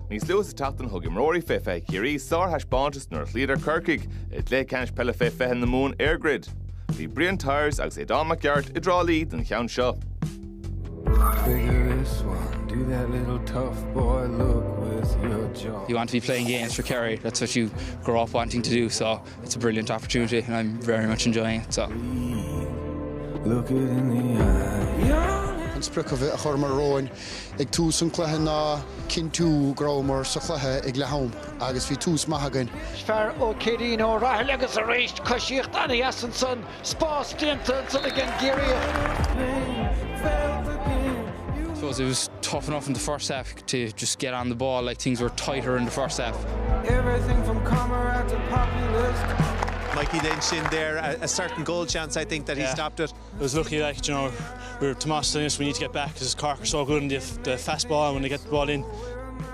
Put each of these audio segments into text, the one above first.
Níos luaithe sa tseachtain thug imreoirí fé 20 Chiarraí sárthaispeántas nuair a chloíodar Corcaigh i gcluiche ceannais peile fé 20 na Mumhan EirGrid. Bhí Brian Tyers agus Aodán Mac Gearailt i dTrá Lí don cheann seo. You want to be playing games for Kerry, that's what you grow up wanting to do, so It's a brilliant opportunity and I'm very much enjoying it. So. An sprioc a churmar romhainn ag tús an cluiche ná cinntiú go rabhamar sa chluiche ag leath-am agus bhí tús maith againn. Fear ó Chiarán Ó Rathaille agus arís coisíocht ana-dheas ansan. spás déanta ansan ag an gCiarraíoch. Mikey Lynch in there a a certain goal chance I think that he stopped it. It was lucky like do you know we were Tomás telling us we need to get back because Cork are so good in the the fast ball when they get the ball in.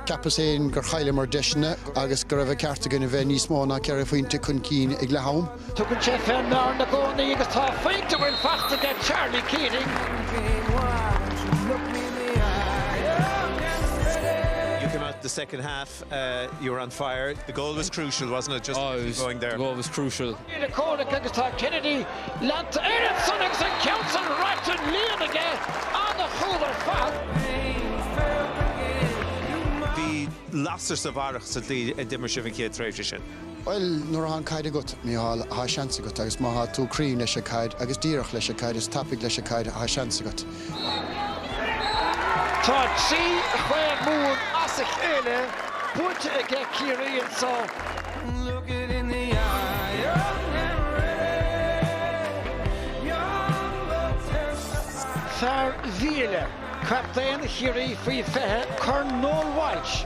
Ceapas féin gur chailleamar deiseanna agus go raibh sé ceart againn a bheith níos mó ná ceithre phointe chun cinn ag leath-am. Tugann sé fé fhear i gcónaí agus tá a phointe faighte aige Charlie Keating do Chorcaigh agus tá Kennedy leanta air ansan agus an ceann san ráite sa líon aige an-chúl ar fad. Bhí lasair sa bharrach sa tslí a d'imir sibh an chéad tréimhse sin. Bhuel, nuair atá an caid agat, Mícheál, tá seans agat, agus má tá tú cruinn leis an caid, agus díreach leis an caid, is tapaidh leis an caid, tá seans agat. Tá trí chraobh Mumhan as a chéile buaite aige Ciarraí anseo. Fear Mhílic. Captaen Chiarraí faoi 20, Corn Noel Walsh.